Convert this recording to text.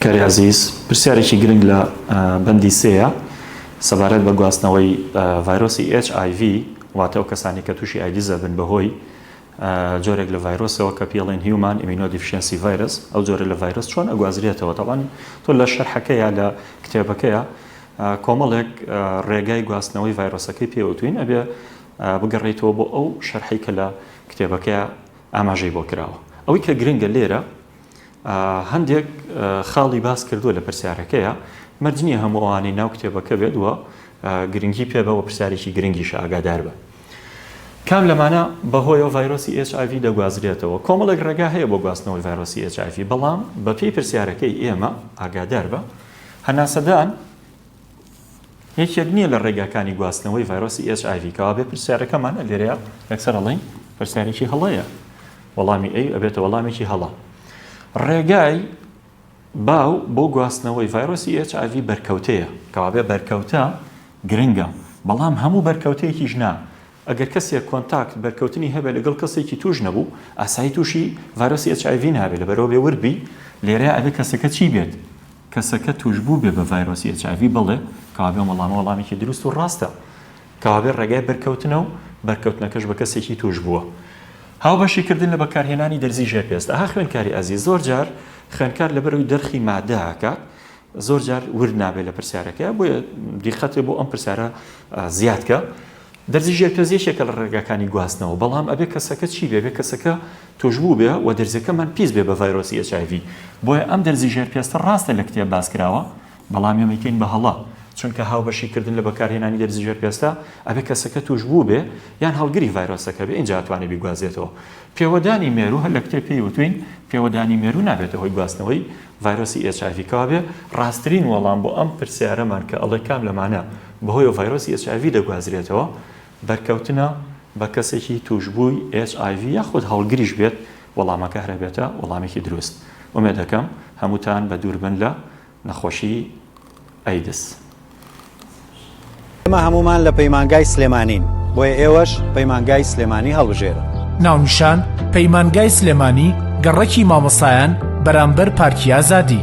کاریی عەزیز، پرسیارێکی گرنگ لە بەندی سێیە سەبارەت بە گواستنەوەی ڤایرۆسی ئێچ ئای ڤی واتە ئەو کەسانەی کە تووشی ئایدز ئەبن بەهۆی جۆرێک لە ڤایرۆسەوە کە پێڵێن هیومان ئیمینۆ دیفشێنسی ڤایرەس ئەو جۆرە لە ڤایرۆس چۆن ئەگوازرێتەوە تەبعەن تۆ لە شەرحەکەیا لە کتێبەکەیا کۆمەڵێک ڕێگای گواستنەوەی ڤایرۆسەکەی پێوتوین ئەبێ بگەڕێیتەوە بۆ ئەو شەرحەی کە لە کتێبەکەیا ئاماژەی بۆ کراوە ئەوەی کە گرنگە لێرە هەندێک خاڵی باس کردووە لە پرسیارەکەیە مەرج نییە هەموو ئەوانەی ناو کتێبەکە بێت وە گرنگی پێ بەوە پرسیارێکی گرنگیش ئاگادار بە کام لەمانە بەهۆیەوە ڤایرۆسی HIV دەگوازرێتەوە کۆمەڵێک ڕێگا هەیە بۆ گواستنەوەی ڤایرۆسی HIV بەڵام بەپی پرسیارەکەی ئێمە ئاگادار بە هەناسەدان یەکێک نییە لە ڕێگاکانی گواستنەوەی ڤایرۆسی ئێچ ئایڤی کەوابێ پرسیارەکەمان لێرەیە یەکسەر ئەڵێین پرسیارێکی هەڵەیە وەڵامی ئەی ئەبێتە وەڵامێکی هەڵە ڕێگای باو بۆ گواستنەوەی ڤایرۆسی ئێچ ئایڤی بەرکەوتەیە کەوابێ بەرکەوتە گرنگە بەڵام هەموو بەرکەوتەیەکی ژنا ئەگەر کەسێک کۆنتاکت بەرکەوتنی هەبێ لەگەڵ کەسێکی توش نەبوو ئاسایی تووشی ڤایرۆسی ئێچ ئایڤی نابێت لەبەرەوە بێ وردبی لێرە ئەبێ کەسەکە چی بێت کەسەکە تووشبووبێ بە ڤایرۆسی ئێچ ئای ڤی بڵێ، کەوابێ ئەم وەڵامە وەڵامێکی دروست و ڕاستە، کەوابێ ڕێگای بەرکەوتنە و بەرکەوتنەکەش بە کەسێکی تووشبووە. هاوبەشی کردن لە بەکارهێنانی دەرزی ژێر پێست. ئەها خوێنکاری ئازیز، زۆر جار خوێنکار لەبەرئەوەی دەرخی مادە ئەکات، زۆر جار ورد نابێ لە پرسیارەکە، بۆیە دیقەتێ بۆ ئەم پرسیارە زیاد کە. دەرزی ژێرپێست یەکێکە لە ڕێگاکانی گواستنەوە، بەڵام ئەبێ کەسەکە چی بێ؟ ئەبێ کەسەکە توشبوو بێ و دەرزیەکەمان پیس بێ بە ڤایرۆسی ئێچ ئای ڤی، بۆیە ئەم دەرزی ژێر پێستە ڕاستە لە کتێب باس کراوە، بەڵام ئێمەی کەین بە هەڵە، چونکە هاوبەشی کردن لە بەکارهێنانی دەرزی ژێر پێستە ئەبێ کەسەکە توشبوو بێ یان هەڵگری ڤایرۆسەکە بێ ئینجا ئەتوانێ بیگوازێتەوە. پێوەدانی مێروو هەر لە کتێب پێی وتوین پێوەدانی مێروو نابێتە هۆی گواستنەوەی ڤایرۆسی ئێچ ئای ڤی کەوابێ ڕاسترین وەڵام بۆ ئەم پرسیارەمان کە ئەڵێ کام لەمانە بەهۆیەوە ڤایرۆسی ئێچ ئای ڤی دەگوازرێتەوە بەرکەوتنە بە کەسێکی توشبووی ئێچ ئای ڤی یاخود هەڵگریش بێت وەڵامەکە هەرەبێتە وەڵامێکی دروست ئومێدەکەم هەمووتان بەدووربن لە نەخۆشی ئەیدز. ئێمە هەموومان لە پەیمانگای سلێمانین، بۆیە ئێوەش پەیمانگای سلێمانی هەڵبژێرن. ناونیشان، پەیمانگای سلێمانی گەڕەکی مامۆستایان بەرامبەر پارکی ئازادی.